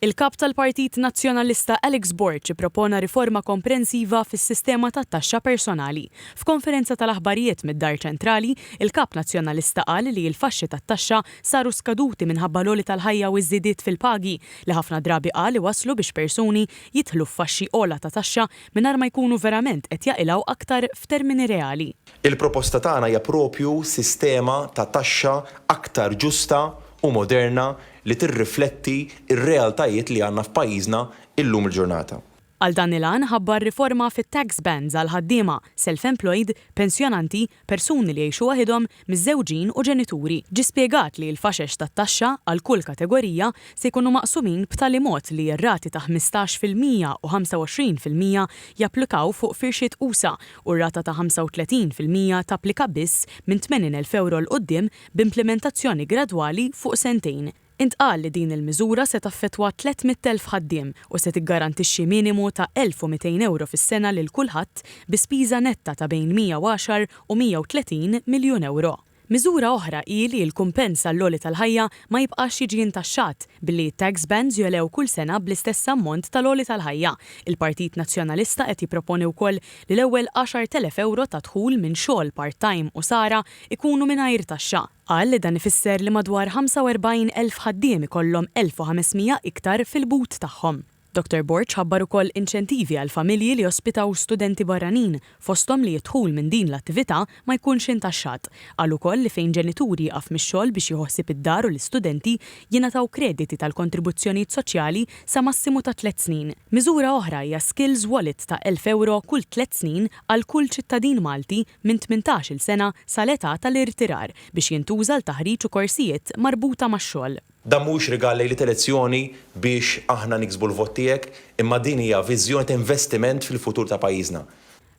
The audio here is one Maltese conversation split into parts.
Il-Kap tal-Partit Nazzjonalista Alex Borg ippropona riforma komprensiva fis-sistema tat-taxxa personali. F'konferenza tal-aħbarijiet mid-Dar Ċentrali, il-Kap Nazzjonalista qal li l-faxxi tat-taxxa saru skaduti minħabba l-għoli tal-ħajja u ż-żidiet fil-pagi li ħafna drabi qal iwasslu biex persuni jidħlu f'faxxi ogħla ta' taxxa mingħajr ma jkunu verament qed jaqilgħu aktar f'termini reali. Il-proposta tagħna hija proprju sistema ta' taxxa aktar ġusta u moderna li tirrifletti r-realtajiet li għandna f'pajjiżna illum il-ġurnata. Għal dan il-għan ħabbar riforma fit-tax bands għal ħaddiema, self-employed, pensjonanti, persuni li jgħixu waħidhom, miżżewġin u ġenituri. Ġie spjegat li l-faxex tat-taxxa għal kull kategorija se jkunu maqsumin b'tali mod li r-rati ta' ħmistax fil-mija u ħamsa u għoxrin fil-mija japplikaw fuq firxiet usa' u r-rata ta' ħamsa u tletin fil-mija tapplika biss minn tmenin elf ewro 'l quddiem b'implimentazzjoni gradwali fuq sentejn. Intqal li din il-miżura se taffettwa 300,000 ħaddiem u se tiggarantixxi minimu ta' 1,200 ewro fis-sena lil kulħadd bi spiża netta ta' bejn 110 u 130 miljun ewro. Miżura oħra hi li l-kumpens għall-għoli tal-ħajja ma jibqax jiġi intaxxat billi t-tax bands jogħlew kull sena bl-istess ammont tal-għoli tal-ħajja. Il-Partit Nazzjonalista qed jipproponi wkoll li l-ewwel 10,000 ewro ta' dħul minn xogħol part-time u sara ikunu mingħajr taxxa. Qal li dan ifisser li madwar 45 elf ħaddiem ikollhom 1,500 iktar fil-but tagħhom. Dottor Borg ħabbar ukoll inċentivi għal familji li jospitaw studenti barranin, fosthom li d-dħul minn din l-attività ma jkunx intaxxat. Qal ukoll li fejn ġenitur jieqaf mix-xogħol biex jieħu ħsieb id-dar u l-istudenti, jingħataw krediti tal-kontribuzzjonijiet soċjali sa massimu ta' tliet snin. Miżura oħra hija Skills Wallet ta' elf ewro kull tliet snin għal kull ċittadin Malti minn tmintax-il sena sa l-età ta' l-irtirar biex jintuża għal taħriġ u korsijiet marbuta max-xogħol. Dan mhuwiex rigal lejlit elezzjoni biex aħna niksbu l-vot tiegħek, imma din hija viżjoni ta' investiment fil-futur ta' pajjiżna.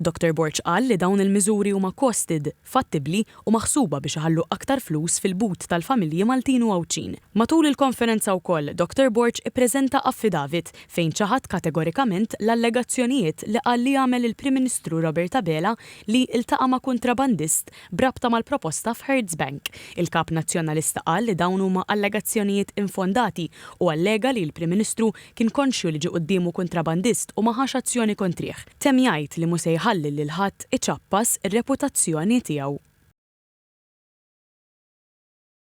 Doctor Borg qal li dawn il-miżuri huma costed, fattibbli u maħsuba biex iħallu aktar flus fil-but tal-familji Maltin u Għawdxin. Matul il-konferenza wkoll, Dottor Borg ippreżenta affidavit fejn ċaħad kategorikament l-allegazzjonijiet li qal li għamel il-Prim Ministru Robert Abela li ltaqa' ma' kuntrabandist b'rabta mal-proposta f'Hertz Bank. Il-Kap Nazzjonalista qal li dawn huma allegazzjonijiet infondati u allega li l-Prim Ministru Kien konxju li ġie quddiemu kuntrabandist u ma ħax azzjoni kontrih. Temm jgħid li mhu se jħalli lil ħadd iċappas ir-reputazzjoni tiegħu.